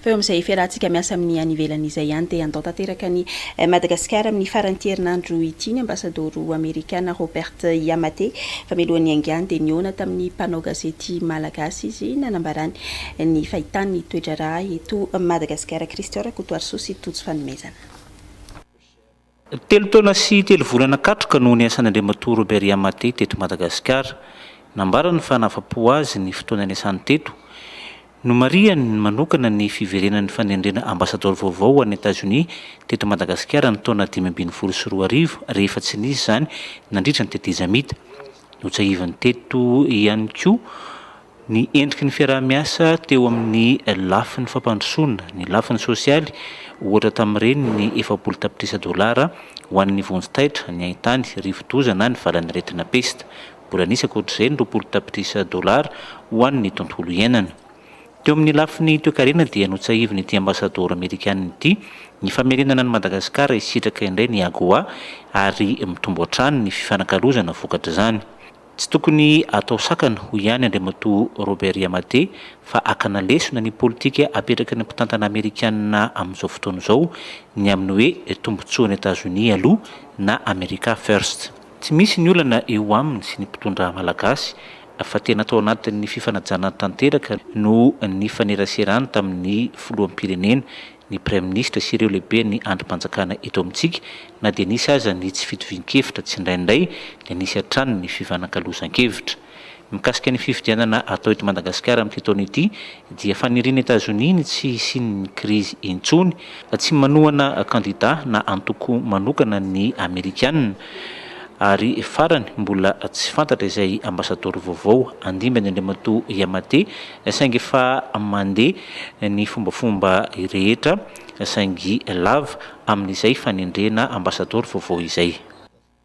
Fa eo amin'izay fiarahantsika miasa amin'ny any ivelany izay ihany dia handao tanteraka an'i Madagasikara amin'ny faran'ity herinandro ity ny Ambasadoro Amerikana Robert Iamate. Fa mialoha ny haingany dia nihaona tamin'ny mpanao gazety Malagasy izy nanambarany ny fahitany ny toedraharaha eto Madagasikara. Christian Rakotoarisoa sy Tojo Fanomezana. Telo taona sy telo volana katroka no niasan'Andriamatoa Robert Yamate teto Madagasikara. Nambarany fa nahafa-po azy ny fotoana niasany teto. Nomarihany manokana ny fiverenan'ny fanendrena Ambasadaoro vaovao ho an'i Etazonia teto Madagasikara ny taona dimy ambin'ny folo sy roa arivo rehefa tsy nisy izany nandritra ny tetezamita. Notsahiviny teto ihany koa Ny endriky ny fiaraha-miasa teo amin'ny lafiny fampandrosoana ny lafiny sosialy, ohatra tamin'ireny ny efapolo tapitrisa dolara ho an'ny vonjy taitra, ny haintany, rivo-doza na ny valan'aretina pesta. Mbola nisy ankoatr'izay ny roapolo tapitrisa dolara ho an'ny tontolo iainana. Teo amin'ny lafiny toekarena dia notsahivin'ity Ambasadaoro Amerikana ity ny famerenana an'i Madagasikara hisitraka indray ny AGOA ary mitombo hatrany ny fifanakalozana vokatr'izany. Tsy tokony atao sakana, hoy ihany Andriamatoa Robert Yamate, fa hakana lesona ny politika apetraky ny mpitantana Amerikana amin'izao fotoana izao, ny amin'ny hoe tombontsoan'i Etazonia aloha na America First. Tsy misy ny olana eo aminy sy ny mpitondra malagasy fa tena tao anatin'ny fifanajana tanteraka no nifaneraserany tamin'ny filoham-pirenena ny Praiminisitra sy ireo lehiben'ny andrimpanjakana eto amintsika na dia nisy aza ny tsy fitovian-kevitra tsindraindray dia nisy hatrany ny fifanakalozan-kevitra. Mikasika ny fifidianana atao eto Madagasikara amin'ity taona ity dia fanirian'i Etazonia ny tsy hisian'ny krizy intsony, tsy manohana kandida na antoko manokana ny Amerikana ary farany mbola tsy fantatra izay Ambasadaoro vaovao handimbany Andriamatoa Yamate Saingy efa mandeha ny fombafomba rehetra saingy lava amin'izay fanendrena ambasadaoro vaovao izay.